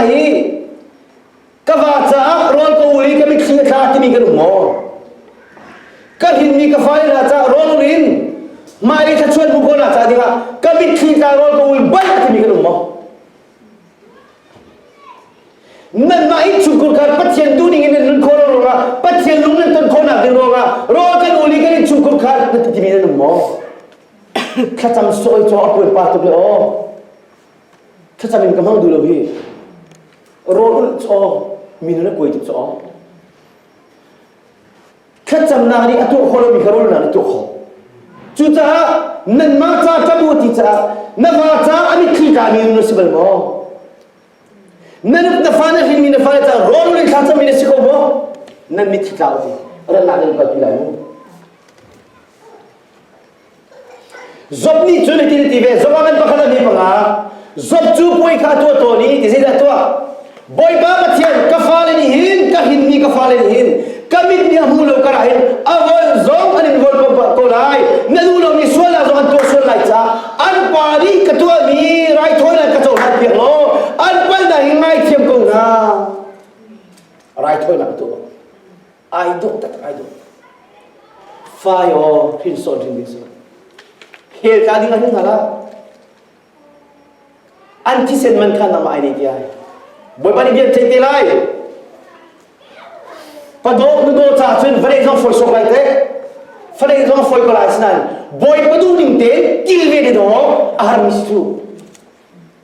i ka va caah rawl ka ul i ka mitthli a tla timi ka lung maw ka hlinmi ka faila caah rawl ul in mah i thluachuan hmu khawh nak cah dingah ka mitthli tla rawl ka ul baih a timi ka lung maw nanmah i chungkul kar pathian duh ding in nan nun khawh ruangah pathian lung nan ton khawh nak ding ruangah rawl kan ul i kan in chungkul kar na timi na lung maw thlacam soi cho a puan pa tuk le aw Thlacam in ka hmang duh lo hi. Rawl ulh chaw min na kuai tuk caw. Thlacamnak nih a tuah khawh lomi kha rawl nih tuah khawh. Cucaah nanmah ca ka bu ti caah na va ca a mitthli ka mi na si bal maw? Na nup na fa na hrin mi na fa na ca rawl in thlacam mi na si ko maw? Nan mitthli tla u ti. Ratnak nan kalpi lai mu. Job nih cun hitin a ti ve, Job ah kan pakhat a mi panga, Job cu puai kha tuah tawn i ti zeidah tuah? Bawipa Pathian, ka fale nih hin, ka hinmi ka fale nih hin, ka mit nih a hmu lo karah hin, a von zong an in von pamh ko lai, na duh lomi sualnak zong an tuah sual lai caah, an pa nih ka tuahmi raithawinak ka cohlan piak law, an palhnak hi ngaithiam ko hna. Raithawinak tuah. ai dawh tak ai dawh fai aw hrin sawn hrin ding si khel ka ding ahhin hna la anti senman kha nama ai nei tiai bawi ni bian thei te lai pado nudo cha chun vale zong foi sok lai te fale zong foi ko lai sinan boy padu ding te til ne de do armis chu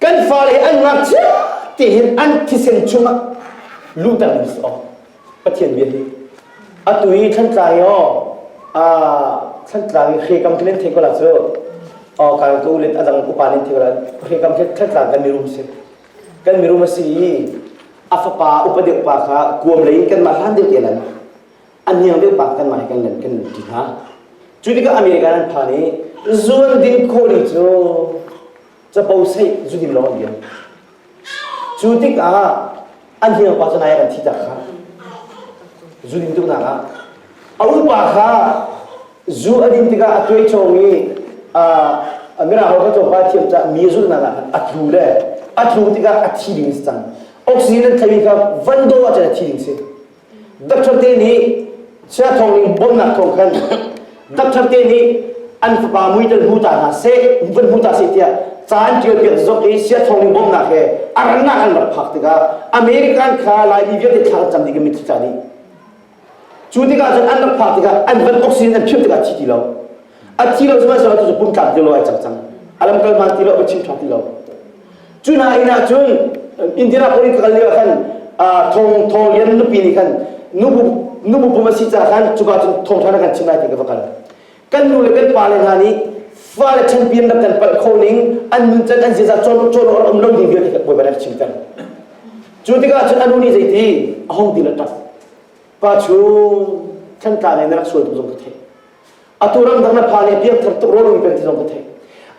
Kan fale an ngakchia tihin an thisen chungah luter mi si awk Pathian bia hi atu i thlantlang i aw thlantlang i hrekam tilen thei ko la cu aw kal ko len adang upa len thei ko la hrekam he thlantlang kan mirum si kan mirum a si i a fapa upa deuh pa kha kuam lei kanmah hlan deuh te lan a niang deuh pa kanmah he kan len kan lut ṭi hna. Cu tikah America an phan i zual ding khawli cu capo seih zudim law an liam. Cu tikah an hniang pa cu nai kan thi tak kha zudim tuknak ah a upa kha zu a din tikah a tuai chawng i a mirang kha tlawmpal thiam caah mi zulhnak ah khan a tlu le a tlu tikah a thi ding a si cang oxygen an thlei kha van daw ah cun a thi ding a si Doctor te nih chia thawng in bawmnak thawng khan doctor te nih an fapa muitel hmu ta hna seh van hmu ta seh tiah caan ṭial piak zok i sia thawng in bawmnak he a rannak an rak phak tikah American kha Laimi vialte thla kan cam ding in mit thla dih cu tikah cun an rak phak tikah an van oxygen an phiat tikah thi ti lo a thi lo sihmanh sehlaw cu pum tlak ti lo ai cang cang a lam kal hman ti lo va chim ṭhang ti lo cu hna inn ah cun Indira Police ka kal lio khan thong thong lian nupi nih khan nubu nubu pum a si caah khan cuka cun thong ṭhan kan chim lai ti ka va kal kan nu le kan pa le hna nih fale champion rak kan palh kho ning an nun can an ziaza cawn cawn awr um lo ding vialte ka bawi banak chim cang cu tikah cun anu nih zeiti a hong dil a ṭap pa cu thantlang in na rak sual tu zong ka theih Atu ramdang na pa nih piangthar tuk rawl kan ti zong ka thei.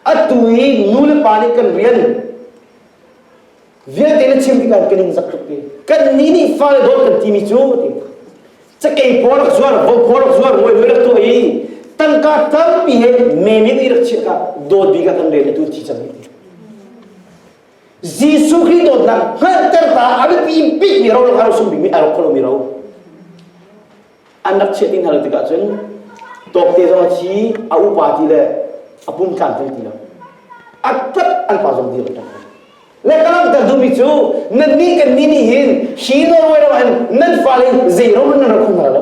Atu i nu le pa nih kan rian vialte na chim tikah kan in zak tuk pi. Kan nih nih fale dawt kan timi cu ti. Cakei pawl rak zuar, vo pawl rak zuar, ngoi ngoi rak tuah i tangka tampi he memin i rak chiah ka dawt bik ah kan rel tu thi cang. Jesuh Khrih dawtnak hngalhter ta a biapi bikmi ro lang aro sum bikmi aro kholo mi ro. an rak chiah ti hna lo tikah cun tawkte zong a thi a upa ti le a pum tlan tung ti lo a tat an pa zong dir a tat le ka langhter duhmi cu nannih kan nih nih hin hi Norway ram hin nan fale zeirom nan rak hung hna lo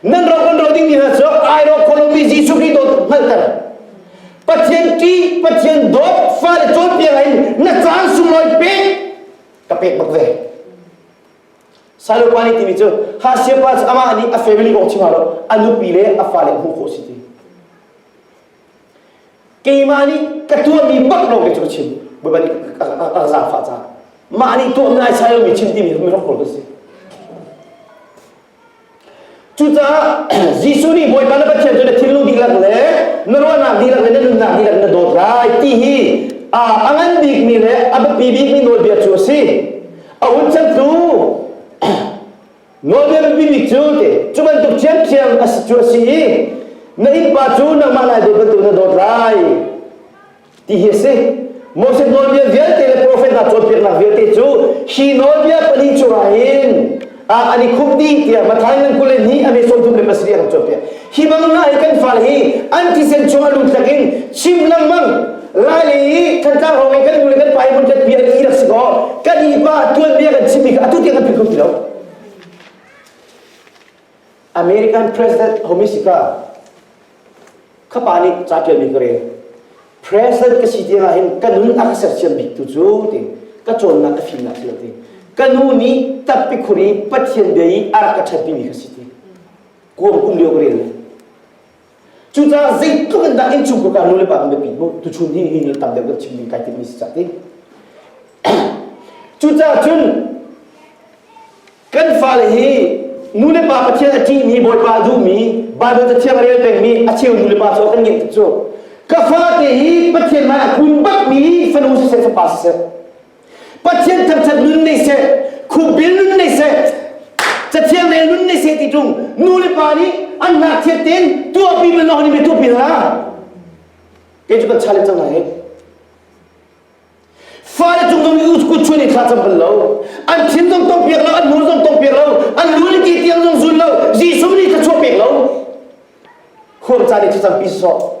nan rak kan ro ding hna cu ai ro Colombia Jesuh Christ hngalter Pathian ṭi Pathian dawt fale cawnpiak in na caan sung loi pek ka pek bak ve Salopani timi cu ha siapa cu amah nih a family awk chim lo a nupi le a fale hmuh khawh si ti keimah nih ka tuahmi bak lawng kei cu ka chim bawipa nih a zafa ca mah nih tuah nai sai lomi chim timi hi rak kawl ka si Cucaah Jesuh nih Bawipa le Pathian cu na thilnu dihlak le na ruahnak dihlak le na nunnak dihlak na dawt lai ti hi a ngan bikmi le a biapi bikmi nawlbia cu a si. A hun chan tu nawlbia biapi bik cu ti cu bantuk thiamthiam a si cu a si i na innpa cu nangmah lai dawt bantuk na dawt lai ti hi a si Moses nawlbia vialte le profet hna cawnpiaknak vialte cu hi nawlbia pali cungah hin an i khup dih tiah Matthai ngan kul le hnih a meson thum le pasarih an cawnpiak hi bangna hi kan fale hi an tisen chung a lunthlak in chim lengmang laile i thantlang hrawng i kan nu le kan pa i hmun khat pi an i rak si kaw kan i pa tuanbia kan chimmi kha atu tiang kan philh kho ti lo American President Homisipa khapa nih ca ṭialmi ka rel president ka si tiangah hin ka nun a ka sersiam bik tu cu ti ka cawnnak ka fimnak si lo ti ka nu nih tappi khur i pathian bia i a rak ka ṭhatmi mi ka si ti kuam kum lio ka rel Cucaah zeitluk in dah innchung ka ka nulepa kan biapi mu tuchun hi hi le tam deuh kan chim ding kai timmi si cak ding cucaah cun kan fale hi nulepa pathian a ṭihmi bawipa a duhmi Baibal cathiang rel pengmi a cheu nulepa cu kan ngeih cu ka fate hi Pathian hmai a kun bakmi fanu siseh fapa siseh Pathian thangthat nun nei seh, khukbil nun nei seh, cathiang nei nun nei seh ti tlung nu le pa nih an ngakchiat tein tuahpi man honi mi tuahpi hna. Kei cu kan cha le cang lai. Fale cung zong i kut chuan i thla cam bal lo. An thin zong tong piak lo, an hmur zong tong piak lo, an lu le ke tiang zong zul lo, Jesuh nih thla chuah pek lo. Khur caan i cacam pi sawh.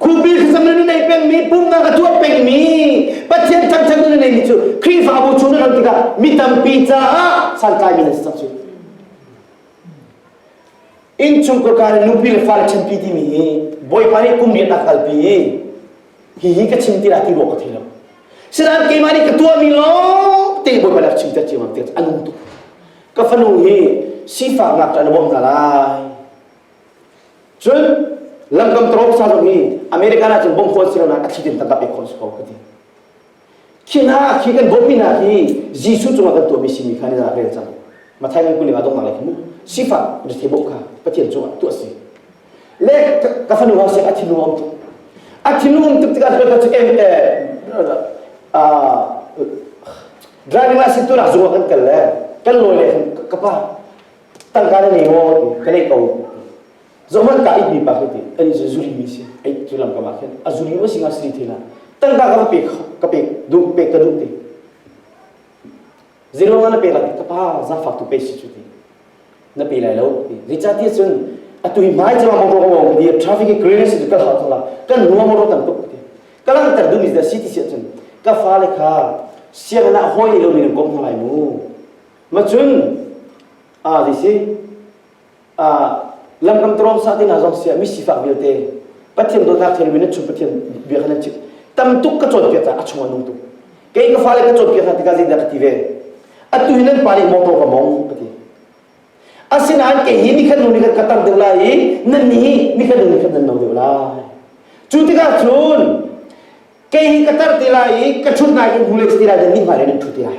Khuapi hrinsam in a nei pengmi, pumhnak a tuah pengmi, Pathian thangthat in a neimi cu Khrihfabu chung an tikah mi tampi caah santlai mi an si cang cu. Innchung kawlkar in nupi le fale chanpi timi hi Bawipa nih kum riat ah kalpi i hihi ka chim tilah ti ruak ka thei lo. Sinain keimah nih ka tuahmi lawng te Bawipa nih a chim chat ciam tik an um tuk. Ka fanu hi sifaknak in a bawmh hna lai. cun lamkam tawng sa lomi American ah cun bom khawn si lonak a thi tim tangka pek khon su ko ka ti khi hna khi kan bawmmi hna hi Jesuh cungah kan tuahmi simi kha ni zan rel cang Mathai ngan kuning ah dongnak lai mu sifak rethi bok kha Pathian cungah tuah si le ka fanu ha se a thinu um tuk a thinu um tuk tikah ka chu em driving license tu nak zungah kan kal le kan lawi le ka pa tangka na ngei maw ti ka nei ko zohmanh ta itmi pa khi ti kan i zuri mi si ai cu lam kamah khin a zuri ma singa sri thina tangka ka pek ka pek duh pek ka duh ti zero nga na pe la ka pa za fak tu pe si chu ti na pe lai lo ti richa ti chun atui mai chama mo ro mo di traffic e green si ka ha thla kan ruwa mo ro tam tuk ti kalang tar du ni da city se chun ka fa le kha siang na hoi lo mi gom lai mu Ma cun a ti si a lamkam trawm sa ti hna zong sia mi sifak vialte Pathian dawtnak thil min chun Pathian bia khan an chim tam tuk ka cawn piak ca a chung an nung tuk kei ka fale ka cawn piak hna tikah zeidah ka ti ve atu hi nan pa nih motor ka mong ka ti asinain kei hi ni khan nu ni khan ka tar deuh lai i nan ni hi ni khan nu ni khan nan no deuh lai cu tikah cun kei hi ka tar ti lai i ka chut nai in hule ti lai dan ni hmai le nan thu ti lai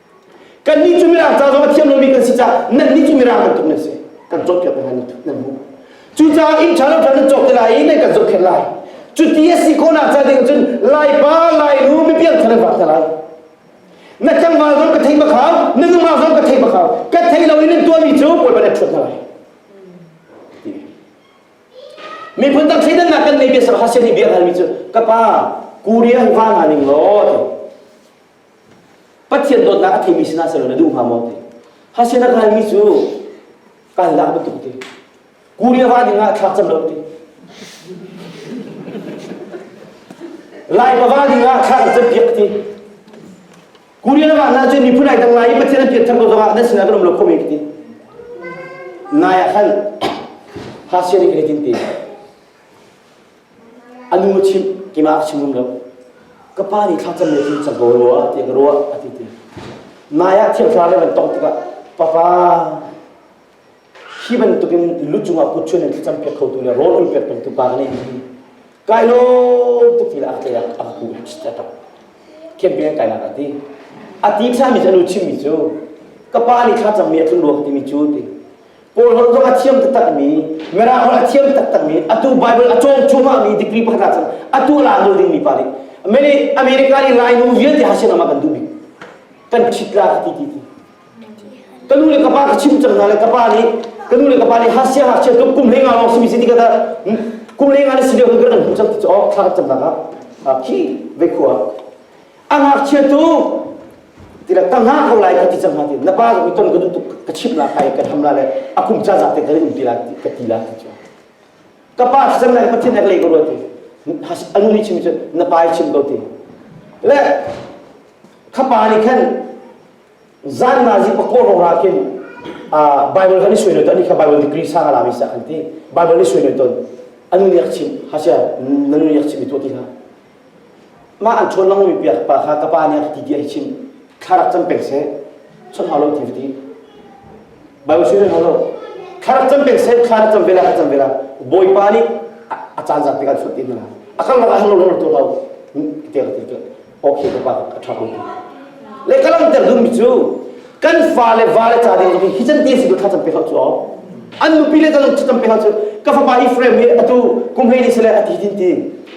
Kannih cu mirang ca zong a thiam lomi kan si caah nannih cu mirang bantuk nan si. Kan cawkpiak hna nan nan hmuh. Cucaah inn ṭha lo ṭha nan cawk ti lai i nan kan zohkhenh lai. Cu ti a si khawhnak ca ding cun laipa, lainu, mipial kha nan vak hna lai. Na tlangval zong ka thei makhau, na nungak zong ka thei makhau. Ka thei lo i nan tuahmi cu Bawi ban a ṭhuat hna lai. Miphun dang thleidannak kan nei biasa hasian i bia halmi cu ka pa, Korea hung hah hna ning law, Pathian dawtnak a theimi sinah selaw na duh hnga maw ti. Hase na kalmi cu kaldak bantuk ti. Kuria ra dingah thlak cam lo ti. Lai pava dingah thlak na cam piak ti. Kuria na na cu miphun ai dang lai i Pathian an pian thar ko zongah nan sinah ka rum lo khomi ti. Nai ah khan hase ni kan tin ti. A nu chimh kima a chim ngam lo. Ka pa nih thlakcam nih cun cago rua ti in ruah a ti ti. Nai ah thiamhra le van tong tikah papa hi bantuk in lu cungah kut chun in thlacam piak khotu le rawl ul piak pengtu pa ka nei hi kai lo tuk ti le a tlei ah a ku a tap khian pin kai nak a ti a ti thami cu a nu chimmi cu ka pa nih thlacam mi a tlun ruang timi cu ti Kawl holh zong a thiam taktakmi, Mirang holh a thiam taktakmi, atu Bible a cawng cuahmahmi degree pakhat ah cun atu a la ding mi pa nih America i lainu vialte ha sinah kan duh bik kan ṭhit la ti ti ti ka nu le ka pa ka chim cang hna le ka pa nih ka nu le ka pa nih hasia hasia kum kum lenga lawng simi siti kata kum lenga na si leo kan an hmu cang ti cu oh thlang cang nak ah khi ve khua a ngakchiatu tira ka ngah ko lai ka ti cang ti na pa zong i ton ka duh tuk ka chimh la kai ka tham la le a kum ca za te ka um ti la ka ti la ti ka pa san lai pathin ek le ko ruati anu ni chim chu na pa chim ko ti le ka pa ni khan zan na zi pakor ro ra kin bible kan sui no tani ka bible degree sang ala mi sa kan ti bible ni sui no ton anu ni chim hasha nanu ni chim tu ti ha Mah an ṭhawn lomi bia pa kha ka pa nih a ka ti tiah i chim. Thla rak cam peng seh. Chawnh hau lo ti va ti. Baibal siri hau lo. Thla rak cam peng seh. Thla rak cam ve la, ka cam ve la. Bawipa nih a caan zan tikah suat ti na la. A kan rak ah lo lo tu lo. Ti ka ti. Okay, ka pa ka ṭha ko ti. Le ka langhter duhmi cu kan fale vale ca ding zong hi can ti si tu thla cam pe hau cu. An nupi le zong cam pe hau cu. Ka fapa hi frame hi atu kumhlei ni sale a ti din ti.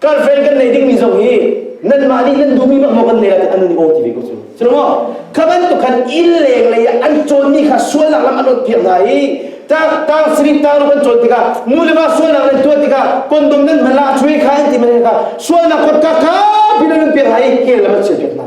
Girlfriend kan neih dingmi zong hi nanmah nih nan duhmi bak maw kan neih ah an an i aw ti ve ko cu. Cu maw? Kha bantuk khan inn leng lei ah an cawnmi kha sualnak lam an awt piak hna i tang tang siri tang ram an cawn tikah nu le va sualnak nan tuah tikah kondom nan hman la chui kha an ti mani kha sualnak kawtka kha pin an piak hna i kel lam an chiah piak hna.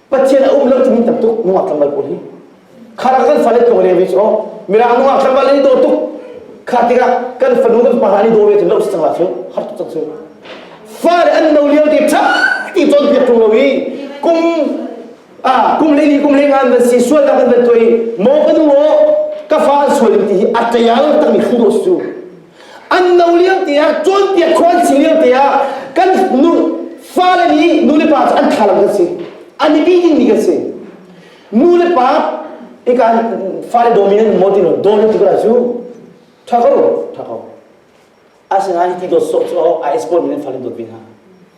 Pathian a um lo timi tam tuk nungak tlambal pawl hi. Khara kan fale to le wi chaw mirang nungak tlambal ni do tuk kha tikah kan fanu kan pa ni do ve cun lo si cang la chu har tuk cang chu fa le an no liao ti tha ti ton piat tung lo i kum a kum le ni kum le ngan van si sual da kan van toi mo ka nu o ka fa an sual ti hi atayal tang mi thu do su an no lio te ah cawnpiak khua an si lio te ah kan nu fale nih nu le pa cu an tha lo kan si an i bi ding mi kan si nu le pa ika fale dominant mo ti no domin ti kula cu tha ko tha ko asinain ti do so cho a export min fale dot bin ha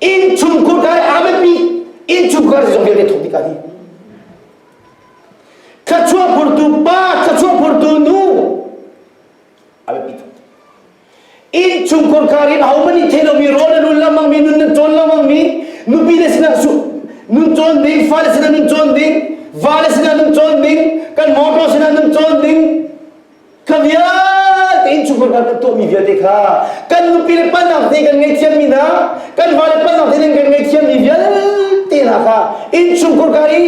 Innchungkhur dai amenmi innchungkhur zong vialte thong bika hi thluachuah phurtu pa thluachuah phurtu nu abepi thong innchungkhur karin haumani thelomi rawl anul lamangmi nun nan cawn lamangmi nupi le sinah su nun cawn ding fale sinah nun cawn ding vale sinah nun cawn ding kan motor sinah nun cawn ding ka bia tein chungkhar kan tuahmi vialte kha kan nupi le panang te kan ngaihthiammi hna kan fale panang te kan ngaihthiammi vialte hna kha in chungkhar ka i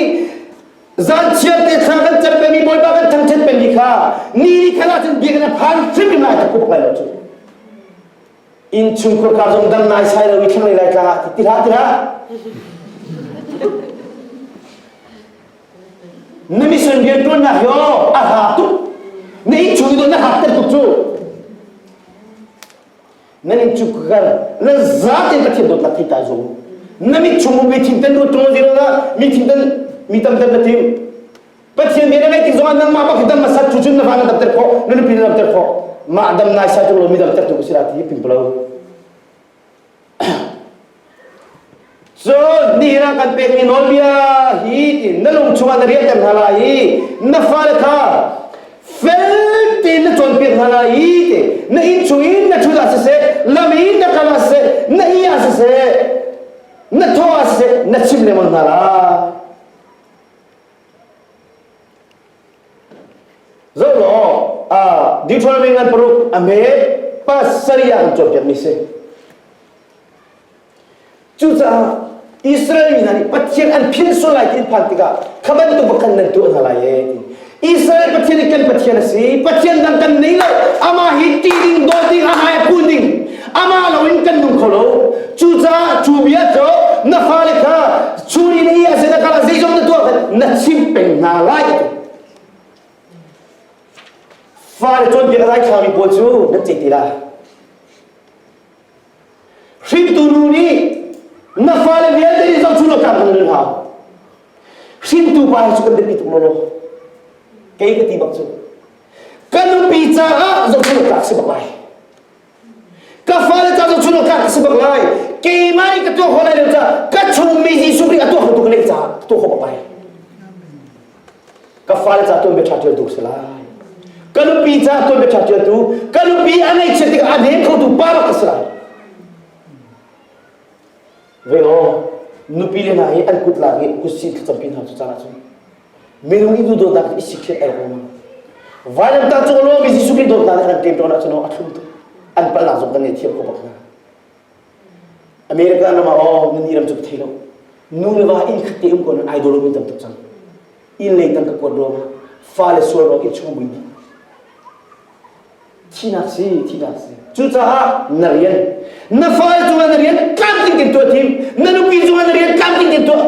zan chiar te thla kan cat pengmi bawipa kan thangthat pengmi kha ni ni khala cun bia kan phan hrim hrim lai ka kup lai lo cu innchungkhur ka zong dam naisai lo i thlanglei laitlang ah ti tila tila na mission rian tuannak yo a hla tuk na innchung i na hak tel tuk cu na innchungkhur kar na zaten ka thiam dot lak ta zong na mit chung mi thim ten du tong zira mi thim ten mi tam ten na tim Pathian bia na ngaih tik zongah nangmah bak hi dam masat tu cun na fa na damter khawh na nupi na damter khawh mah dam nai sa tu lo mi damter tu ka si la ti pimpalo cun ni na kan pek mi nawlbia hi ti na lung chungah na riahter hna lai i na fale kha fel tein na cawn piak hna lai i ti na inn chung in na ṭhut ah siseh lam in na kal ah siseh na ih ah siseh na thaw ah siseh na chim lengmang hna la Zo law uh, Deuteronomy ngan paruk a me pasarih ah an cawnpiak mi si. Cucaah Israel mi hna nih Pathian an phian sual lai ti an phan tikah kha bantuk bakhan nan tuah hna lai e. Israel Pathian hi kan Pathian a si. Pathian dang kan nei lo. Amah hi ṭih ding, dawt ding, amah hi phul ding. amah loin kan nung kho lo cucaah cu vial cu na fale kha suri le i azena kal zeizong na tuah na chim peng hna lai fale cawn piak rai khami pawl cu nan cei ti la hringtu nu nih na fale vialte nih zong cu lo tlak nan hau hringtu pa hi cu kan biapi tuk maw kei ka ti bak cu kan nupi caah zong cu lo tlak si bak ai ka fale ca cu chun ka ka si bak lai keimah i ka tuah ho lai lo ca ka chungmi hi suri a tuah tuk lei ca tuah ho pai ka fale ca tuan bia tha tial tu se lai ka nupi ca tuan bia tha tial tu ka nupi a nei chia tikah a nem kho tu pa bak ka si lai ve law nupi le hna hi an kut lak i kut sin thil tampi hna cu caan ahcun minung i duhdawtnak hi i sik thiat ai ruang Vailamtah cu alawmi Jesuh Khrih dawtnak nih an kan ṭemṭawn ahcun a thlum tuk an palhnak zong kan ngei thiam ko bak hna America ram ah aw nun i ram cu ka thei lo nu le va inn khat te um ko nan ai dawruk in tam tuk cang inn leng tang ka kuat ruang ah fa le sual ruang inn chung buin Thihnak si, thihnak si. Cucaah na rian, na fale cungah na rian tlamtling tein tuah tim. Na nupi cungah na rian tlamtling tein tuah.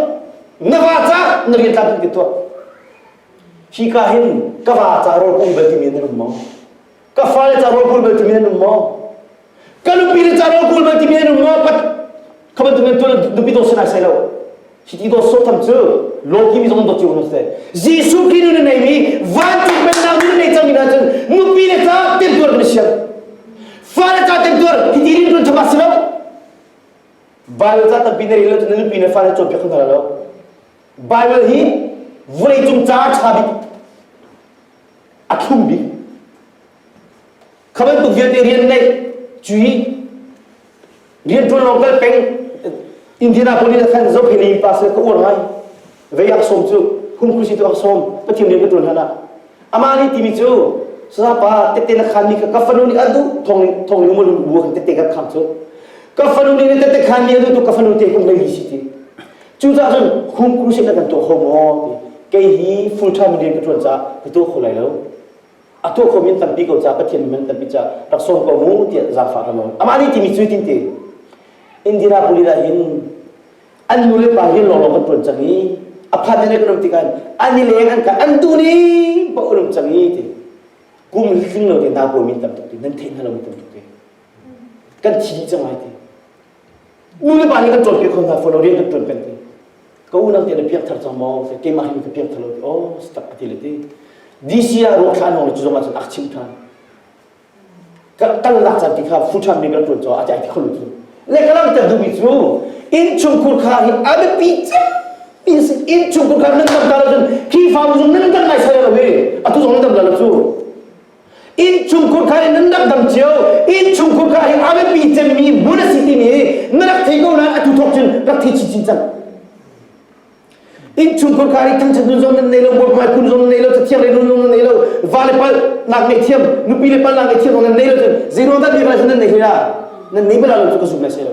Na va ca na rian tlamtling tein tuah. Hi ka hin ka va ca rawlpum bel timi nan um maw? Ka fale ca rawlpum bel timi nan um maw? ka nupi le caro kul man timi an um ngo pat kha bantuk nan tuan nupi daw sinai sai lo hi ti daw so tham cu loki mi zong daw ciu no se jesu kinu na nei mi vancung pennak nu nei cang ina cun nupi le ca ten tuar kan siang fa le ca ten tuar hi ti rin tun chama si lo Bible ca tampi na ri lo cun nupi ne fa le cawpiak kan lo Bible hi vawlei cung ca tha bik a thlum bik kha bantuk vialte rian neih cui rianṭuan lawng kal peng Indianapolis ah khan zopheli pa se ka uar ngai vei ak sawm cu hung khusi tu ak sawm pathian rian ka ṭuan hlan ah amah nih timi cu sapa tette na khan mi kha ka fanu nih a duh thong nih thong nih umul bu kan tette kan kham cu ka fanu nih ne tette khan mi a duh tu ka fanu te kun lei si ti cu ta cun hung khusi na kan tuah ho maw ti kei hi full time rian ka ṭuan ca ka tuah kho lai lo a tuahkhawm in tampi ko ca Pathian min tampi ca rak sawm ko mu tiah zaangfah ka nawn amah nih timi cu tinte Indianapolis ah hin an nu le pa hi lawnglawng kan tuan cang i a phan ne kan um tikah an i leng an ka an tu ni ba um cang i ti kum hling lo te na ko min tam tuk ti nan theih na lo mi tam tuk ti kan thi cang ai ti Ulepa nih kan cawnpiak kho hna fawn lo, rian kan tuan peng ti. Ka unang te na piak thar cang maw? Keimah hin ka piak thar lo ti. Oh, stak a ti le ti. DC ah ruah than hong cu zongah cun ak chim than. Ka tal lak chan ti kha fuṭhan mi kan tuan caah a ti ti kholu cu. Le ka lang ter dubi cu inn chungkur kha hi a biapi cem in inn chungkur kha nan tam ta lo cun khi fa zung nan kan ngai sai lo hi atu zong nan tam la lo cu innchungkhur kha in nan rak dang cio innchungkhur kha hi a biapi cemmi hmun a si timi hi na rak thei ko nain atu thok cun rak thei chinchin cang innchungkhur kha hi thangchan nun zom nan nei lo buak mai kun zom nan nei lo cathiang le nun zom nan nei lo va le pal nak nei thiam nupi le pal nak nei thiam nan nei lo cun zeiruang dah bia bala nan nei hira nan nei bala lo cu ka zumh lai se lo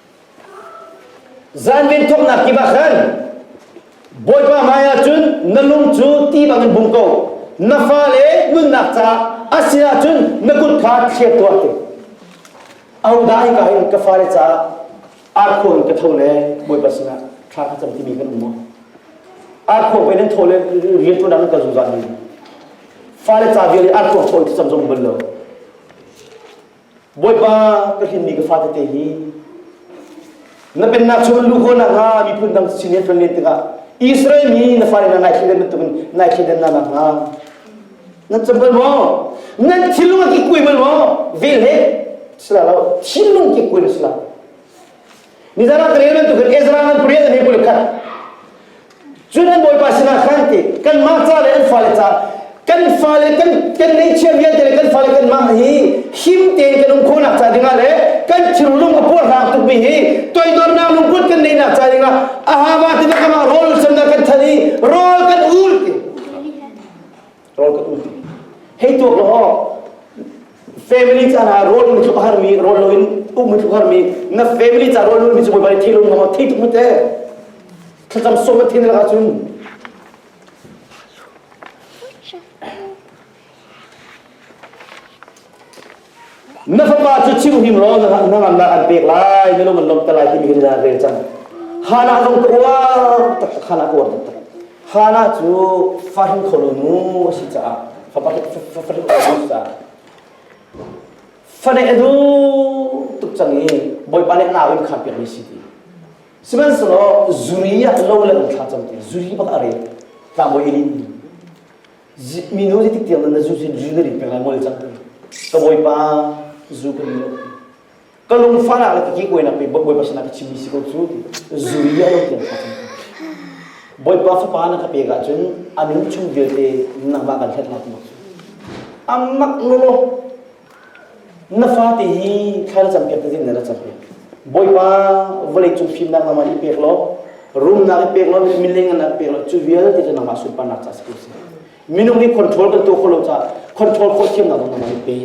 Zanven thawknak kip ah khan Bawipa hmaiah cun na lung cu ti bangin bung ko. Na fale nunnak caah a si ahcun na kut kha chiat tuah ti. Ahodah hika hin ka fale caah arkho in ka tho le Bawipa sinah thla ka cam timi kan um maw? Arkho pei nan tho le rian tu nan kan zungzal ni. Fale ca vial i arkho tho i thlacam zong bal lo. Bawipa ka hlinmi ka fate hi na pennak chung lu ko nakhnga miphun dang sin he tlon len tikah Israel mi na fale na ngaihthlen bantukin ngaihthlen na nakhnga nan cam bal maw nan thilung ki kuai bal maw vel he sila lo thilung ki kuai na sila Nizan ah kare bantuk in Ezra nan pariat an hipul khat. Cun an bawipa sinah khan ti kan mah ca le an fale ca kan fale kan kan nei chiam vialte le kan fale kan mah hi him tein kan um khonak ca dingah le kan thirlung a puar hnak tukmi hi toidornak lungput kan nei nak ca dingah ahava tina kama rawl ulsam na kan than i rawl kan ul ti rawl ka tu hei tuak law family ca na rawl mi thlup har mi rawl lo in um mi thlup har mi na family ca rawl mi cu boi bai thilo ngama thei tuk mute thlacam som thin la cun Na fapa cu chimhim law na ngannak an pek lai na lung an lawmter lai ti hin na rel cang Hannah zong ka uar tak Hannah ka uar tak Hannah cu fahrin kholo nu a si caah fafahrin kholo caah fane a duh tuk cang i bawipa le nau in khan piak mi si ti sihmanhsehlaw zuri ah lo le thla cam ti zuri bak a rel tlangbawi ilin minu zeitik tiang na zu zu ka rik peng lai ngol cang ka bawipa zu ka ri lo ka lungfan ah ka ki koe nak pe bawipa sana ka chimi si ko cu zu ri a lo tiang sa cang bawipa fapa na ka pe ga cun anu chung vialte nangba kan hlet lak mak amak no Na fate hi thla na campiak te zing na rak campiak. Bawipa vawlei cung fimnak nama i pek law rumnak i pek law mileng nak pek law cu vialte cu nangmah sunparnak ca si si. Minung hi control kan tuah kholo ca control khol thiamnak nama i pe.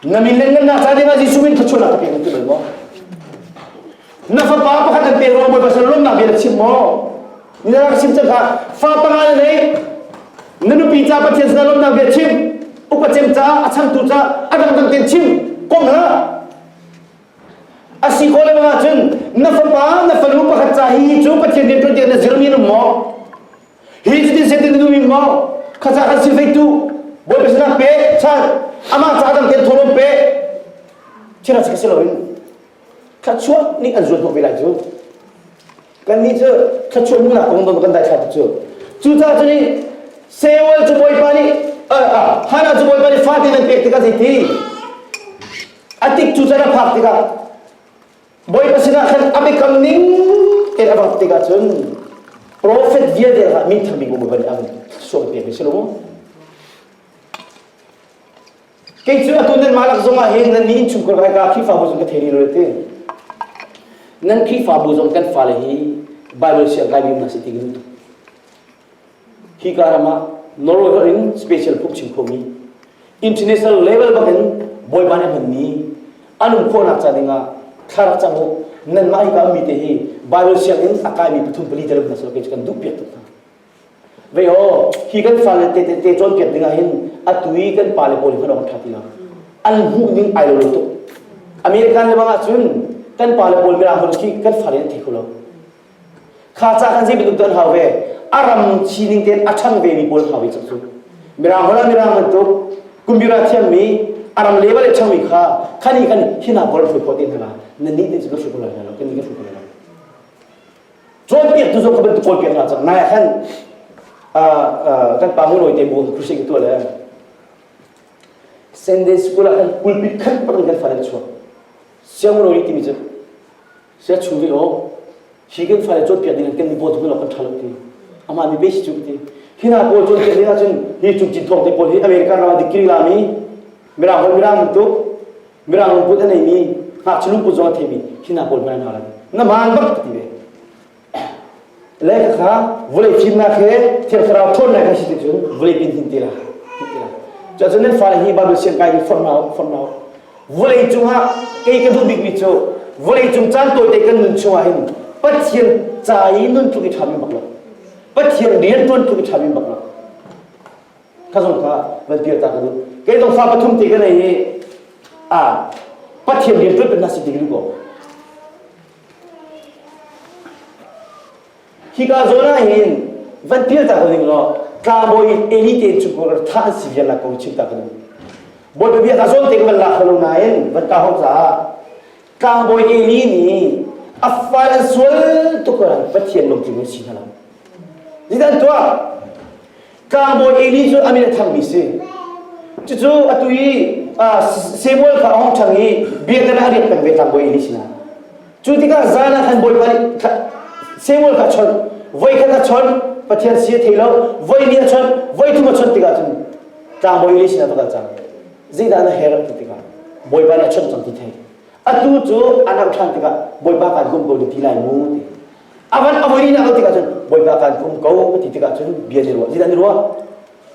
Na mileng nan nak ca dingah Jesuh in thluachuahnak ka pek na ti bal maw? Na fapa pakhat an pe ruang Bawi Pasal lawmnak bia na chim maw? Ni na ka chim cang ka fa tanga in lei na nupi ca Pathian sinah lawmnak bia chim upa cem caah a changtu caah a dangdang ten chim kom ha a si ko le bang cun na fapa na fanu pakhat ca hi cu Pathian rian tuan tiang na zirmi na maw hi cu tin setin na numi maw khaca kan si feitu Bawi Pasal pe chan amah ca dang ten thawlawm pe thira ka si lo in thluachuah nih an zuat hnawh ve lai cu kannih cu thluachuah nunnak kong dong kan daithla tuk cu cucaah cun i Seuel cu bawipa nih Hannah cu bawipa nih fate nan pek tikah zei ti a tik cu can a phak tikah bawipa sinah khan a biakam ning tein a rak tikah cun profet vialte kha minthang mi kong bawipa nih a hun sual piak mi si lo maw Kei cu atu nanmah lak zongah hin nan nih innchungkhar ka hika Khrihfabu zong ka thei rih lo ti. Nan Khrihfabu zong kan fale hi Baibal siangkaimi na si ti in hi ka ram ah Norway holh in special book chim khomi international level bangin bawipa nih hmanmi an um khawhnak ca dingah thla rak cang u nanmah hi ka ummi te hi Baibal sianginn a kaimi pathum pali te ram hna silo kei cu kan duh piak tuk hna Vei ho, hi kan fale te te te cawnpiak ding ahhin atu i kan pale pawl hi hman ṭha ti lo. An hmuhning ai lo lo tuk. American le bang ahcun kan pale pawl mira hon khi kan fale an thei kho lo. Kha ca kan zei bantuk an hau ve, a ram sining tein a ṭhang ve mi pawl an hau ve cuk cu. Mirang hol ah mirang bantuk, kumbira thiammi, a ram level i ṭhangmi kha, khani kan hina bol hrui khawh te hna la, na nih nih cu na hrui kho lai hna lo, kan nih kan hrui kho lai lo. cawnpiaktu zong ka bantuk cawlpiak hna cang nai khan kan pa mulawi te bu Christian ka tuah le Sunday school ah kan pulpit khan parin kan falen chuak siangulawi timi cu sia chung ri o hi kan fale cawnpiak ding kan ni bo tung lo kan thalok ti ama mi besi chu ti hina paul cawnpiak ni na cun hi cung cin thong te paul hi america ram dikri lami mirang hol mirang tu Mirang lungput an neimi ngakchia lungput zong a theimi hina pawl hmai an hal na man bak ka ti ve leka kha vawlei fimnak he thiang thlarau ṭhawnnak kan si ti cun vawlei pin hin tila tila cuacun nan fale hi Bible siang kai form now form now vawlei cungah kei ka duh bikmi cu vawlei cung caan tawite kan nun chungah hin Pathian ca i nun tluk i ṭhami bak lo Pathian rian ṭuan tluk i ṭhami bak lo ka zung kha van kir ta ka duh kei zong fa pathum te ka nei i a pathian rian ṭuan hna si ti ka duh ko hika zawn ah hin van kir ta ka ning law tlangbawi eli te cu ko tha an si vial la ko chim ta ka duh bawi bia ka zawn te ka van la khalo nain van ka hong caah tlangbawi eli nih a fai an sual tuk an pathian lom tling si hna lo zidan tuah Tlangbawi Eli cu a min a thangmi si. Cucu atu i Samuel kha a hong ṭhang i biakinn ah a riak peng ve tlangbawi Eli sinah. Cu tikah zan ah khan Bawipa nih Samuel kha a chawnh. Voi khat a chawnh, Pathian si a thei lo. Voi ni a chawnh, voi thum a chawnh tikah cun tlangbawi Eli sinah va kal cang. Zeidah na her an ti tikah Bawipa nih a chawnh cang ti thei. Atu cu a narh ṭhan tikah Bawipa kaan bawmh ko na ti lai mu ti. A van a voi na lo tikah cun bawipa kan kum ko ka ti tikah cun bia ni ruah zidan ni ruah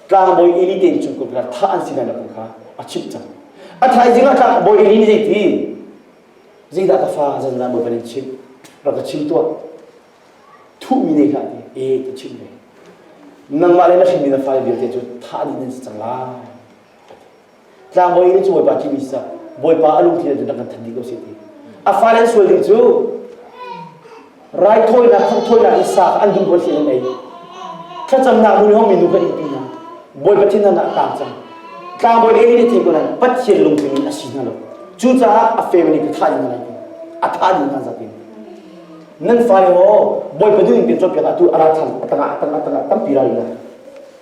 tlangbawi Eli te in cun kum kha thah an si na kum kha a chimh cang a thaizing ah tlangbawi Eli zei ti zeidah ka fa zan zan bawi in chim rak ka chim tuah thuhmi ne hlah ti e ka chim ve nangmah le na hrinmi na fai vialte cu thah ni nan si cang lai Tlangbawi in cu Bawipa thimi si Bawipa a lungthin ah nan kan than dih ko sih ti a fale an sual ding cu raithawinak thangthawinak in sa an duh bual an ei thlacamnak nu hong minu kan in ti hna Bawipa thinhan ah tang cang tlangbawi ei ni thei ko lai Pathian lungthin in a si hna lo cucaah a family ka thah in lai a tha ding hna zakin nan fale ho Bawipa nun in kan cawnpiak ah tu ara than atanga atanga atanga tampi ra ila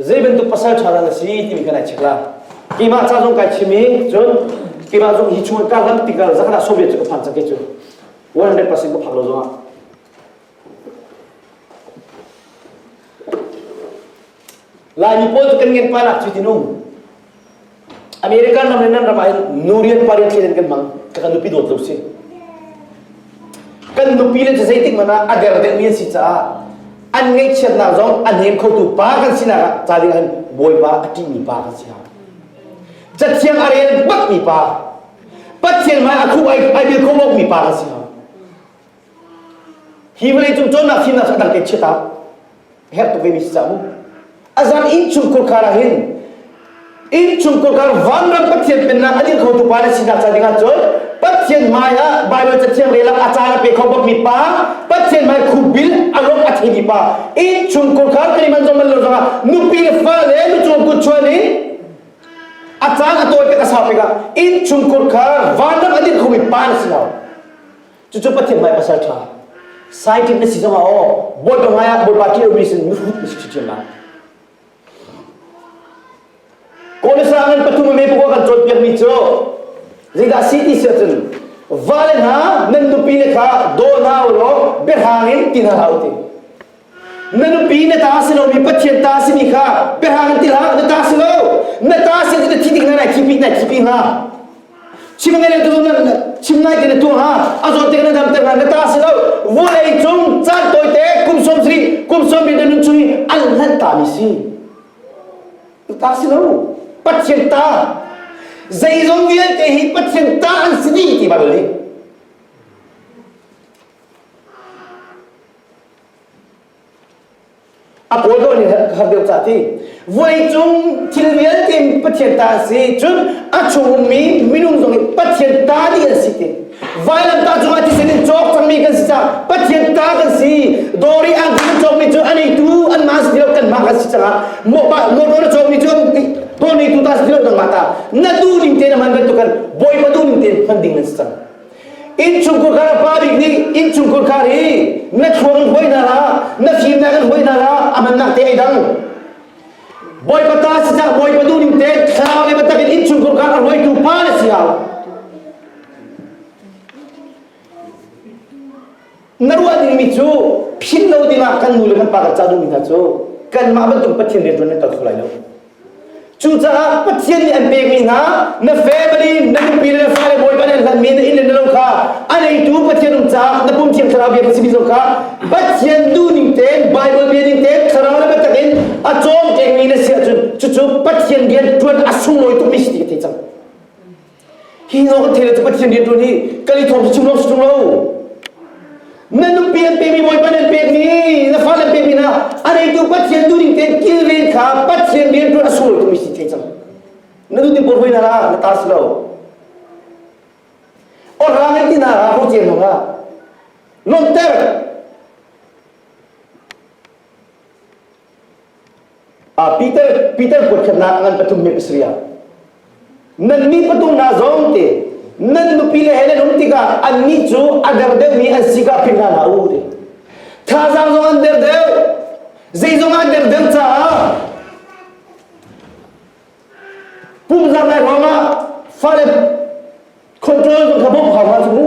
Zei bantuk pasal ṭha dah na si timi kan ai check la. Keimah ca zong kai chim i cun keimah zong hi chung ka lam tikah zakhat ah Soviet cu ka phan cang kei cu 100% ka phak lo zong ah Laimi pawl kan ngen panak cu tinung. American ram le nan ram ah nu rian pa rian thlen kan mang ka kan nupi dawt lo si. Kan nupi le cu zeitik man ah a der deuhmi an si caah an ngaihchiatnak zong an hem khotu pa kan sinak ah ca ding an bawipa a ṭihmi pa kan si ha. Cathiang a rel bakmi pa, Pathian hmai a khuh ai bil kho bokmi pa kan si ha. Hi vawleicung cawnnak thimnak cu a dang te chiat ah herh tuk ve mi si cang mu. A zan innchung kurkar ah hin innchung kurkar vanram Pathian pennak a ding khotu pa na sinak ca dingah cun Pathian hmai ah Baibal cathiang relak a caan a pe kho bak mi pa Pathian hmai khuk bil a lok a thei mi pa innchung kurkar kan i man zong man lo zongah nupi le fa le nu cung kut chuan i a caan a tawi pek a sau pek ah innchung kurkar vanram a ding kho mi pa na si lo Cucu Pathian bai pasal ṭha. Scientist na si zongah aw Bawipa ngai ah Bawipa ṭih lomi sin mihrut na si hrim lai. Kawlesang in pathum me pukua kan cawnpiakmi cu zeidah si ti si ahcun vale hna nan nupi le kha daw hna u law biahrang in ti hna hlah u ti na nupi na ta si lo mi pathian ta si mi kha biahang ti hlah na ta si lo na ta si ti na thi ding na nai khipi nai khipi hnga chim ngai tu na chim nai ke na tu ha a zon te na dam te na ta si lo vawlei cung chan toy te kum som sri kum som bi nun chui an lan ta mi si ta si lo pathian ta zeizong vialte hi pathian ta an si ni ti bible ni A pawl dawh nih har deuh cah ti. Voi cung thil vialte Pathian ta an si. Cun a chung ummi minung zong hi Pathian ta dih an si ti. Vailam ta cungah thisen in cawk cangmi kan si cang. Pathian ta kan si. Dori ang in cawkmi cu an eitu an ma si lo kan ma kan si cangah. Motor cawkmi cu dawr neitu ta si lo nangmah ta. Na duh ning te na man bantukan Bawipa duh ning te hman ding nan si cang. Innchungkhar kha pa bik nih innchungkhar kha hi na thluang in hoihnar ah na fimnak in hoihnar ah a mannak te ai dang bawipa ta sinah bawipa duh ning te thlarau le bantak in innchungkhar kha a hruaitu pa na si hau Na ruah dingmi cu philh lo dingah kan nu le kan pa kan ca duhmi hna cu kanmah bantuk Pathian rian ṭuan nan kal kho lai lo. Cucaah Pathian nih an pekmi hna na family, na nupi le na fale bawipa nih an hlatmi na inn le na lo kha a neitu Pathian um caah na pum thiang thlarau bia kan si mi zong kha Pathian duh ning tein Bible bia ning tein thlarau le biatak in a cawm tekmi na si ahcun cucu Pathian bia ṭuan a sunglawi tukmi si ti ka thei cang. Hi nawl a theitu Pathian rianṭuan hi kan i thawng sung lo sung lo. Na nupi an pekmi, bawipa nan pekmi, na fale an pekmi hna, a reitu Pathian duhning tein kilven kha Pathian rianṭuan a sul tumi si thei cang. Na nutin porhoi na ra, na ta si lo. Orang in tina ra, porciam lo ra. Lawmter. Peter, Peter kuatkhatnak ngan pathum mi pasarih ah nannih pathum hna zong te nan nupi le he nan um tikah annih cu a der deuhmi an si ka philh hna hlah u ti thazaang zong an der deuh zeizong an der deuh caah pumzar lai ruangah fale control kha bawmh hau hna cu mu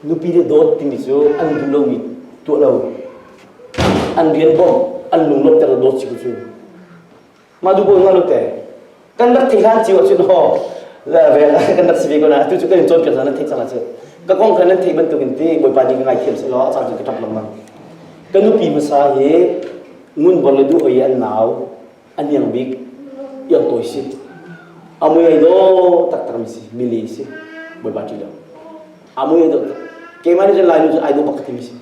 Nupi nih dawt timi cu an duh lomi tuah lo. An rian bawmh, an lunglawmh tiang dawt si cu. Mah duh bawm nga lo te. Kan rak thei hlan cio ahcun ho la vel kan rak si ve ko na atu cu kan in cawnpiak caan nan theih cang ahcun ka kong kha nan theih bantukin ti bawipa nih ka ngaithiam seh law caan cu ka ṭap lengmang. Ka nupi hmasa hi ngun bor le duh hoi an nau a niang bik iang tawi si a mui ai do tak tak mi si mili si boi ba tu lo a mui ai do tak keima ni lai nu ai do bak ti mi si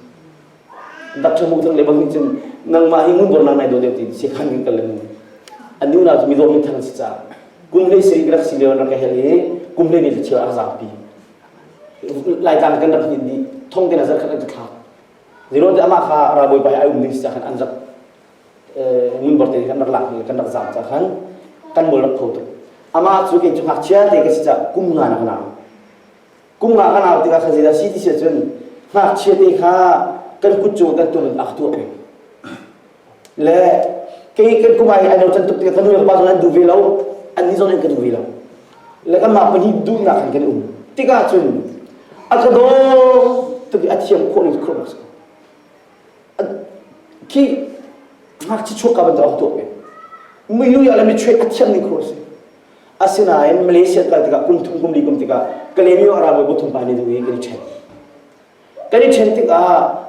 dak chang muk le bang hin chin nangma hi ngun bor nang nai do deu ti si khan ning tal mu ani una mi do min thang si cha kumhle sri rak si leon rak hel ni kumhle bi chi a za pi lai tan kan rak ni di thong te na zar khat ka tha zero te ama kha ra boi pai ai um ni sa khan anjak minbor te kan rak lak mi kan rak zam cang khan kan mol rak kho tuk amah cu ken cu ngakchia te ka si ca kum nga na kanau kum nga kanau tikah kha zeidah si ti si cun ngakchia te kha kan kut cung kan tum in ak tuah peng le kei kan kum ai ai no tan tuk tikah kan nu pa zon an du ve lo an ni zon an kan du ve lo le kan mah pani duhnak kan kan um tikah cun a ka dawr tuk i a thiam khawh ning khawh nak khi ngakchi chuakka bantuk a tuak i milu ya le michuai a thiang ni kho a si asinain malaysia kal tikah kum thum kum li kum tikah kalemi a ralbawi bu thum pa nih duh i kan i ṭhen kan i ṭhen tikah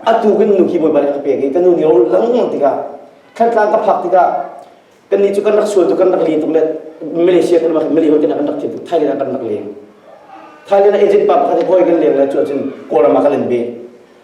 a tukin nuki bawipa nih a ka pek i ka nu nih ro lang tikah thantlang ka phak tikah kannih cu kan rak sual tu kan rak li tuk le malaysia kan rak mali kan rak thiam tuk thailand kan rak leng thailand agent pa pakhat hoi kan leng le cu ahcun kawlram ah kan in be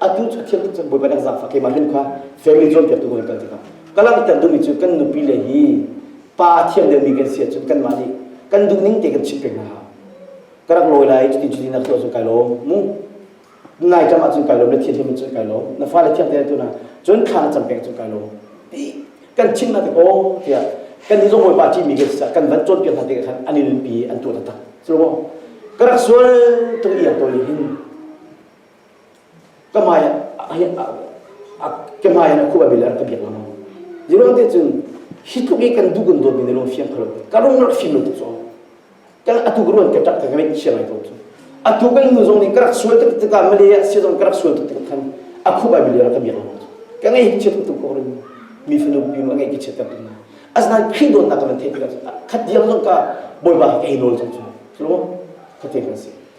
atu a thiam tuk cang bawipa exam fa keimah hlun kha family cawnpiaktu kan kan tikah ka langhter duhmi cu kan nupi le hi pa a thiam deuhmi kan si ahcun kanmah nih kan duh ning te kan chimh peng hna ha ka rak lawi lai cutin cutin na tuah cun kai lawm mu nai cam ahcun kai lawm na thiamthiam cun kai lawm na fale thiam te tu na cun thla na cam peng cun kai lawm ti kan chim na te ko tiah kan ni zong bawipa ṭimi kan si kan van cawnpiak hna te khan an in pi an tuah taktak silo ka rak sual tung iang tawi hin ka hmai in a khuh a bil a rak ka biak lengmang ziruang te cun hi tluk i kan duh kan dawt mi ne lawng fiang thalo ka rung rak fim lo tuk cu kan atu ka ruan ka ṭak ka ngeih sia ngai ko cu atu ka nu zong nih ka rak sual tuk tikah Malaysia sia zong ka rak sual tuk tik khan a khuh a bil a rak ka biak lengmang cu ka ngei hi chiat tuk ko rin mi fanu pi nu a ngei ki chiat tak na asnan khi dawt nak kan theih tikah khat diam zong ka bawipa he ka i nawl zong cu tlu kha te kan si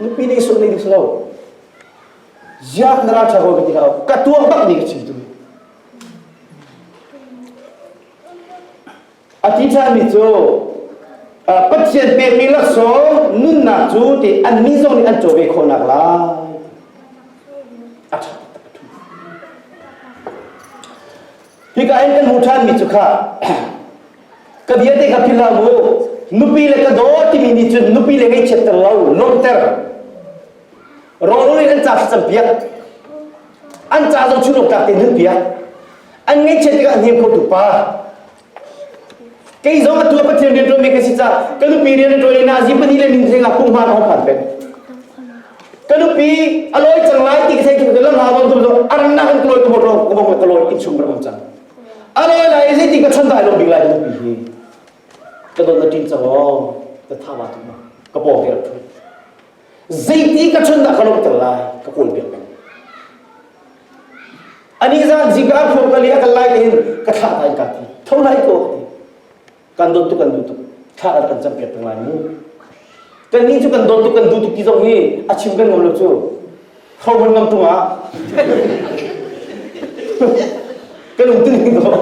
Nupi nih sung ding si lo. Ziak na ra ṭha ko ka ti hlah. Ka tuang bak nih ka chim tu. A ti ṭhanmi cu Pathian pekmi laksawng nunnak cu ti annih zong nih an cawve khawhnak lai. A ṭha taktak a ṭhu. Hika in kan hmu ṭhanmi cu kha ka bia te kha philh hlah u nupi le ka daw timi nih cun nupi le ngaihchiatter lo lawmhter rawlrul in an ca hri campiak an ca zong chunawm tlak te nun piak an ngaihchiat tikah hnem khotu pa kei zong atu pathian rian ṭuanmi ka si ca ka nupi rian ṭuan in azi pahnih le min seng akung hma ka hong phan pek ka nupi a lawi cang lai ti ka thei lam ha bang tum zo arannak in kalawi ka mawt ro ka bang ka lawi in chung ram cang A rawi lai zeitin ka chon dai lo bik lai ka pi hi ka don na tin chang o ka thawa tu ma ka pawng ke rak thu zeiti ka chon da ka lok tel lai ka pol biak bang ani zan jika phok kali akal lai te hin ka thla dai ka ti thonai ko ti kan dawt tuk kan duh tuk thla a kan cam piak peng lai mu kan nih cu kan dawt tuk kan duh tuk ti zong hi a chim kan ngam lo cu hromun ngam tung ah kan um tu ning ko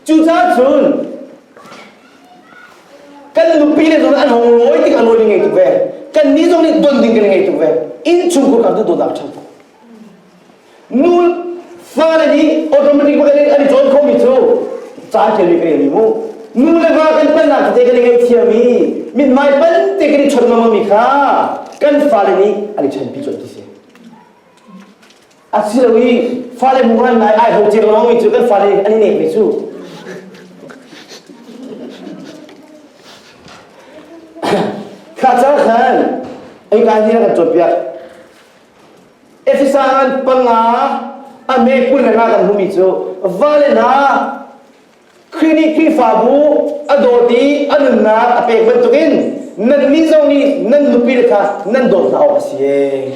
cucaah cun kan nupi le zong an hong lawi tik an lawi ding ngei tuk ve kan ni zong nih don ding kan ngei tuk ve inn chung kur kan tu dawt ah ṭhang tuk Nul fale nih automatic an i join khomi cu caan thiammi kan ngei mu. Nu le va kan palnak tete kan i ngaihthiam i mithmai palte kan i chawnh mangmi kha kan fale nih an i chanpi cu an ti si. Asilo i fale hmuhran ngai ai ho ciang lawngmi cu kan fale an i nekmi cu kha ca khan ai kai ni kan cawnpiak Efesan panga a meekun le nga kan hmumi cu vale hna Khrih nih Khrihfabu a dawt i a nunnak a pek bantukin nannih zong nih nan nupile kha nan dawt hna awk a si e.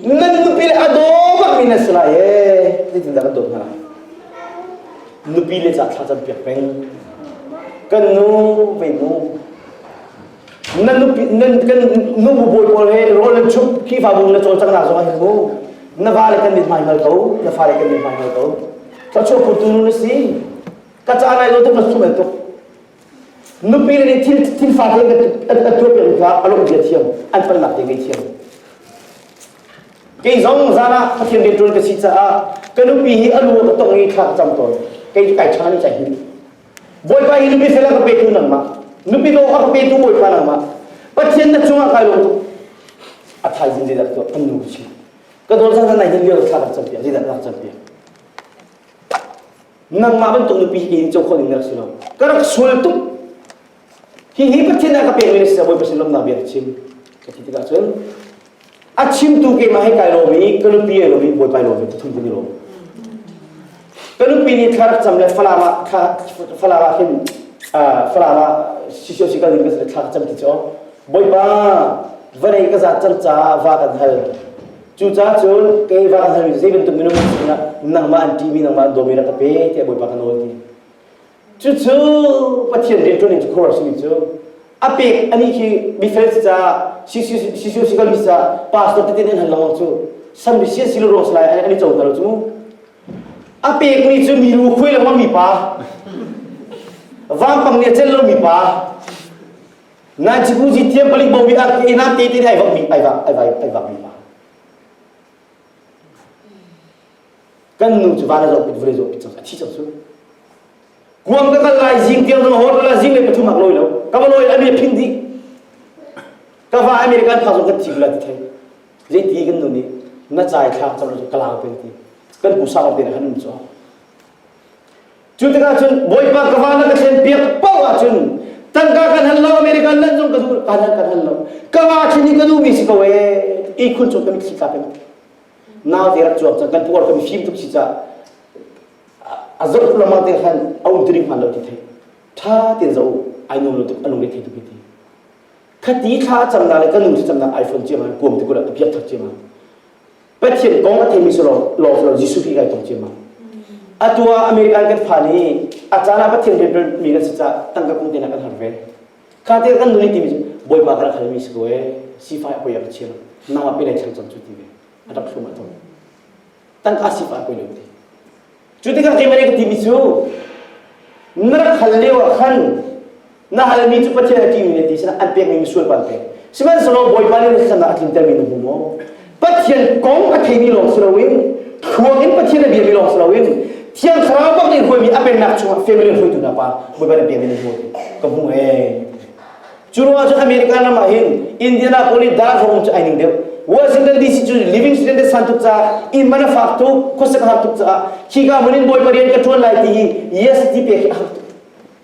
Nan nupile a daw bakmi nan si lai e. Zeitindah kan dawt hna? Nupile ca thla campiak peng. Kan nu, vei nu, na nupi nan kan nubu bawi pawl he rawl an chup kihfabu na cawlcanghnak zong ah mu na vale kan mit hmaingal ko na fale kan mit hmaingal ko ka chuah putu nu na si ka ca nai lo tuk na sum tuk nupi le nih thil thil fa te ka tuah pe ka along bia thiam an palnak te ngai thiam kei zong zan ah pathian rian ṭuan ka si caah ka nupi hi a lu ka tong i thla ka cam tawn kei kai chana ni cai hi Bawipa hi nupi fel a ka petu nangmah nupi daw a ka petu Bawipa nangmah Pathian na cungah kai lung a thaizing zeidah tuah kan nu si ka dawt zan nai hin lio thla kan campi zeidah rak campi nangmah bantuk nupi hi ka in co khawh ding rak si lo ka rak sul tuk Hihi Pathian a ka pekmi na si ah Bawipa sin lawmhnak bia ka chim ka ti tikah cun a chimtu keimah he kai lawm i ka nupi he lawm i bawipa i lawm ve pathum kan i lawm ka nupi nih thla rak cam le falam ah thla falam ah hin falam ah sisio sikal in ka thla ka cam ti cu bawipa vanei ka zat cang caah va kan hal cucaah cun kei va kan hal mi zei bantuk minung sinah nangmah an ṭihmi nangmah an dawmi rak ka pe tiah bawipa ka nawl ti Cucu Pathian rianṭuan cu khuaruah simi cu a pek ani khi mifel si caah sisio sikal mi caah pastor tete nih an hal lawng cu san bisi an si lo rong si lai an i coter lo cu a pek mi cu milu khuai lengmang mi pa vampang nih a cel lo mi pa Nanchipuzi tiang palik bo mi ar inam te te nih ai vak mi ai vak ai vak ai vak mi pa kan nu cu van a zoh pin vawlei zoh pin cang a thi cang cu kuang ka kal lai zing tiang zong hor la zing le pathum ak loi lo ka va loi a mi phing di ka va american pa zong kan thi la ti thei le ti kan nu nih na chai thlak cang cu kalang te ti kan pu sa te kan nu cho cu tikah cun bawipa ka va na ka thlen piak pau ah cun tangka kan han lo american nan zong ka du kan han kan han lo ka va chini ka du mi si ko e i khul chung ka mit si ka kan na ver cuap cun kan puar kan fim tuk si ca a zor lama te khan a um tiring hman lo ti thei tha tin zo ai nu lo tuk alung ri thei tuk ti thati thla cham na le kan nu cham na iphone che ma kuam te kula apiat thak che ma pathian kong a thei mi solo lo lo jisu pi gai tong che ma atua american kan pha ni a cana pathian bel mi na si ca tangka kung te na kan har ve Katil an nuai timi cu Bawipa ka rak halmi si ko ee sifai a poi a ka chia nang a pelai chang cam cu ti ve a rak hrum a ton tangka sifai a poi lo ti cu tikah keimah ka timi cu na rak hal lio ah khan na halmi cu Pathian a ṭihmi na ti sinah an pekmi misual pa an pek sihmanhsehlaw Bawipa nih na thlan ah a tlintermi na hmu maw Pathian kong a theimi lawng si loin thluak in Pathian a biami lawng si loin Thiang Thlarau bak nih huami a pennak chungah family hruaitu hna pa hawipa le biami nih huami ka hmu ee. Cu ruangah cun America ram ah hin Indianapolis darhawng cu ai ning deuh Washington DC cu Livingstone te san tuk caah inn man a fak tuk khuasik a har tuk caah khika hmun in Bawipa rian ka ṭuan lai ti hi yes ti pek hi a har tuk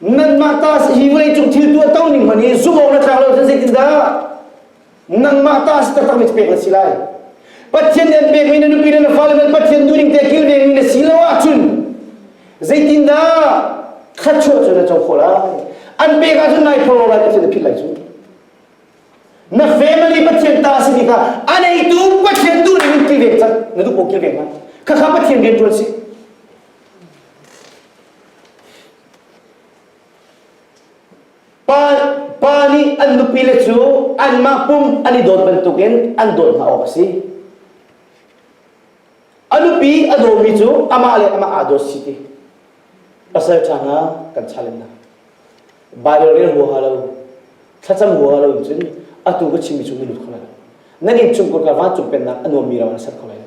Nanmah ta hi vawleicung thil tuahto ning hmanh hi zumh awk na tlak lo cun zeitindah nangmah ta si taktak mi pek na si lai Pathian nih an pekmi na nupi le na fale man Pathian duhning te kil dengmi na si lo ahcun zeitindah thluachuah cu na co khawh lai an pek ahcun nai phoro lai Pathian na philh lai cu na family Pathian ta si bik ah a neitu Pathian duhning in kil deng cak na duh ko kil deng ma khakha Pathian rian ṭuan si Pa nih an nupile cu anmah pum an i dawt bantukin an dawt hna awk a si. A nupi a dawmi cu amah le amah aa dawt si ti. Pasal ṭha hna kan challenge hna. Baibal rel huaha lo, thlacam huaha lo in cun atu ka chimmi cu na lut kho lai lo. Nan inn chungkur kar vancung pennak a nuammi ram na ser kho lai lo.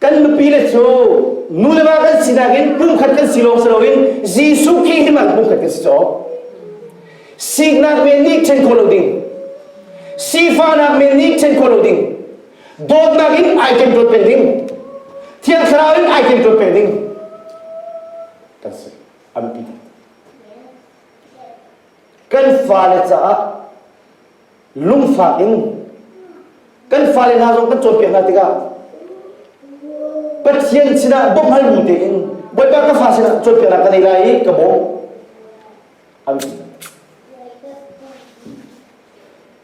kan nupile cu nu le va kan sinak in pumkhat kan si lawng si loin Jesuh Khrih hi pumkhat kan si caw siknak men nih chen khawh lo ding sifahnak men nih chen khawh lo ding dawtnak in ai ken dawt pe ding thiang thlarau in ai ken dawt pe ding kan si an pi kan fale caah lungfak in kan fale hna zong kan cawnpiak hna tikah Pathian sinah bawmhal bu tein Bawipa ka fa sinah cawnpiaknak ka nei lai i ka bawm amin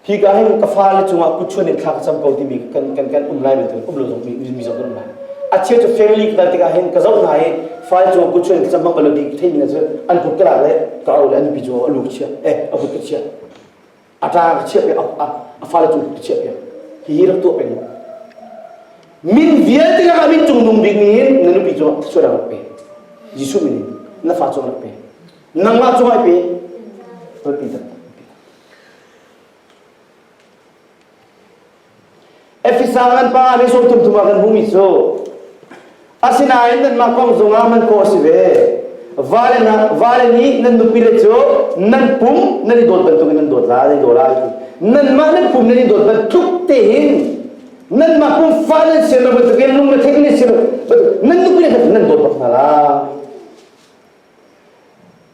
hi ka hin ka fale cungah kuchuan in thla ka cam ko timi kan kan kan um lai bantukin um lo zong mi mi zong kan um lai a chia cu family ka dal tikah hin ka zoh hna i fale cungah kuchuan ka cam bang balo bi theimi na cu an kut ka lak le ka au le an pi cungah a lu ka chia eh a kut ka chia a ṭa ka chiah piak a fale cu ka chiah piak hihi rak tuah peng min vialte ka min cung nung bikmi in na nupi cu sual rak pe Jesuh min in na fa cung rak pe nangmah cung ai pe tonpi tak Efesa nan pa nih sawmthumthum ah kan hmumi cu asinain nanmah kong zongah hman khawh a si ve vale, vale nih nan nupile cu nan pum nan i dawt bantukin nan dawt la nan i dawt la nanmah nan pum nan i dawt bantuk tein nanmah pum fa nan si lo bantukin lungrethei nan si lo nan nupile nan dawt bak hna la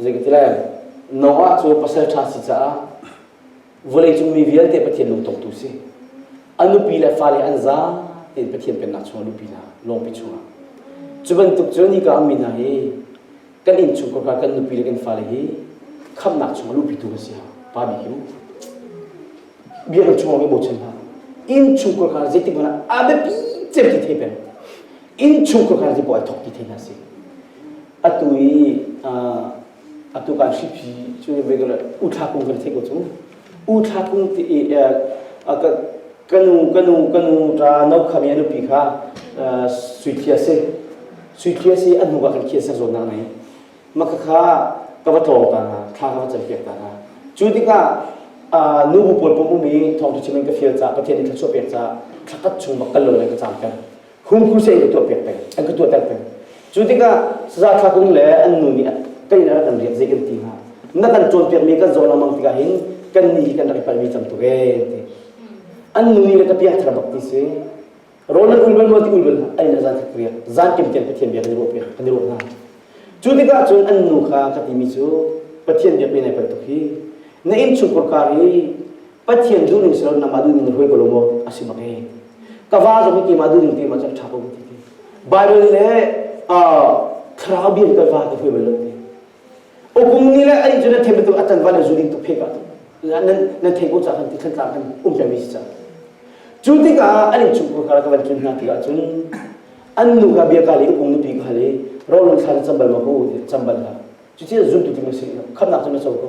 zei ka ti lai Noah cu pasalṭha si caah vawleicung mi vialte Pathian lungtongtu si a nupi le fale an za tiin Pathian pennak chungah lupi hna lawngpi chungah cu bantuk cu ni ka ammi hna hi kan inn chung kawka kan nupi le kan fale hi khamnak chungah lupitu kan si ha pa mi hi mu biakam chungah kan bochan hna inn chung kawka zeitik hmanh ah a biapi cem te thei peng inn chung khuakhan hi bawi thawk ti thei hna si atu i atu kan hripi cu regular uthlakung kan thei ko cu uthlakung ti kanu kanu kanu ta no khami anu pi kha suithia si suithia si an hnuka kan khian ser zawn nak nei maka kha ka va tlawng ta hna thla ka va cel piak ta hna cu tikah nu bu pawl pom umi thawngthu chimin ka fial ca pathian in thluachuah pek ca thlakat chung bak kal lo le ka cam kan hung crusade ka tuahpiak peng an ka tuahter peng cu tikah saza thlakung le an nu nih kan in rak kan riak zei kan ti hnga na kan cawnpiakmi kan zawn lengmang tikah hin kan ni hi kan rak i palhmi cam tuk ee ti an nu nih le ka piah thar bak ti si ronan ulbal mo ti ulbal ai na zan thak riak zan kim tian pathian bia kan ruah piak kan i ruah hna cu tikah cun an nu kha ka timi cu pathian bia pe nai pal tuk hi na in chungkur kar i Pathian duh ning silo nangmah duh ning ruai ko lo maw asi ma ke ka va zong hi keimah duh ning te ma cak tha ko ti ti Bible le thlarau bian kan va ti hui mai lo ti opung ni le ai ju na them tu atan van zu ding tu phe ka tu nan nan thei ko cha kan ti thlan tlang kan um pe mi si cha cu tikah an in chung ko kara ka van chun hna ti ah cun an nu ka bia ka le opung nu pi ka le ro lon thlan chambal ma ko ti chambal ha cu chi zun tu ti ma si kham nak chu na so ko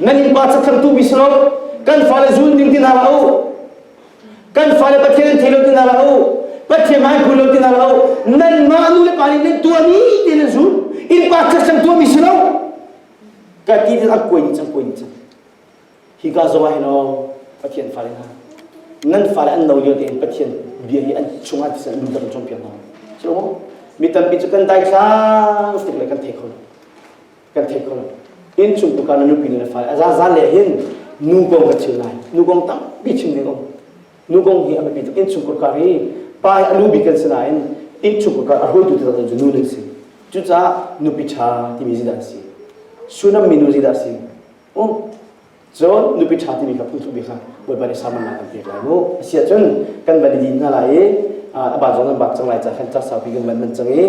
nan innpa cathangtu mi si lo kan fale zun ding ti na lo kan fale pathian an thei lo ti na lo pathian mai phu lo ti na lo nan mah nu le pa nih nan tua ni te nan zun innpa cathangtu mi si lo ka ti tin a kuai ni cang kuai ni cang hi ka zawa hi lo pathian fale na nan fale an no yo te pathian bia hi an chunga ti san lu dang chom piang na chilo mi tampi chu kan dai sang stik le kan thei khon kan theih kho inncung tukar na nupi le fai aza zan le hin nu gong ka thil nai nu gong tampi chim ding om nu gong hi abipi tuk inncung kurkar hi pai alu bi kan sina in inncung kurkar a roi tu tuk nu ning si cucah nupi tha timi zida si sunam minu zida si um zon nupi tha timi ka phu tu bi kha boi bani saman na kan pek lai mu asia chun kan bani din na lai a ba zon bak chang lai cha khan cha sau pi kan man man chang i